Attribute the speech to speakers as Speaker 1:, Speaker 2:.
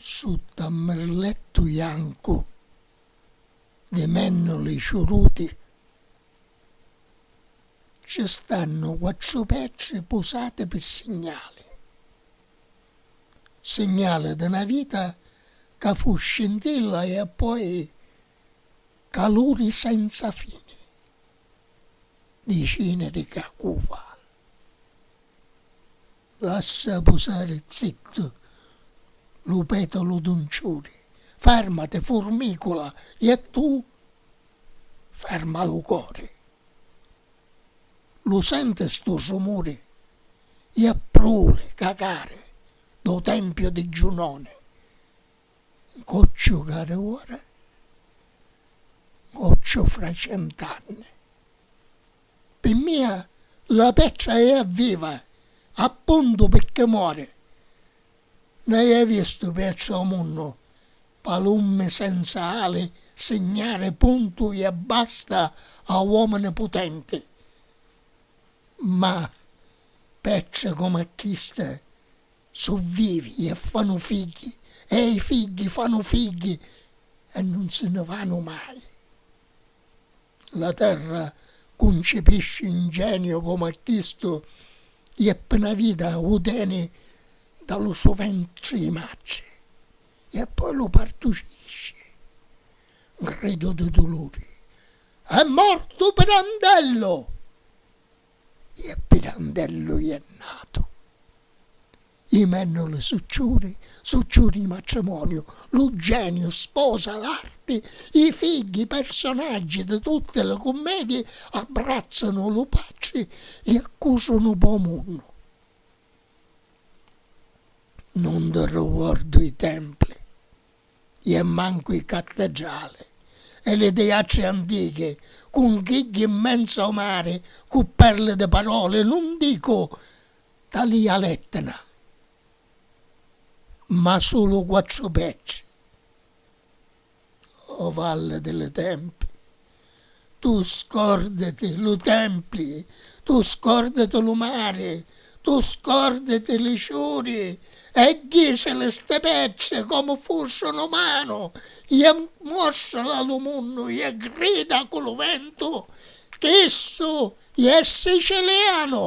Speaker 1: Sutta a mmirlettu jancu di mennuli ciuruti ci stannu quattru petri pusati pi signali, signali di na vita ca fu scintilla e appoi caluri senza fini di ciniri ca cuva. Lassa pusari zittu lu petalu d'un ciuri, farmati furmicula e a tu farma lu cori. Lu senti stu rumuri e a pruli cacari dô tempiu di Giunoni, ncocciu cari ora, ncocciu fra cent'anni. Pi mia la petra è viva, appuntu pirchì mori. N'haiu vistu petra o munnu, palummi senza ali signari puntu i abbasta a uomini putenti. Ma petri comu a chista su vivi e fanu figghi e i figghi fanu figghi e nun si ni vanu mai. La terra cuncipisci 'n geniu comu a chistu i è pi na vita u teni da lu so ventri i matri i e poi lu partucisci. N gridu di duluri, È mortu Pirandello! I e Pirandellu i è natu. I mennuli su ciuri, su ciuri di matrimoniu, lu geniu sposa l'arti, i figghi personaggi di tutti li cummedii abbrazzanu lu patri i accusu nu bò munnu. Nun di ricuordu i templi i e mancu i cattedrali e li tiatri antichi cunchigghi in menzu o mari cu perli di paroli nun dicu talia l'Etna, ma sulu quattru petri, o valli di li templi, tu scorditi lu templi, tu scorditi lu mari, tu scorditi li ciuri e jisili sti petri comu fussunu manu, je muostrili a lu munnu, je grida cu lu ventu, Chistu iè sicilianu!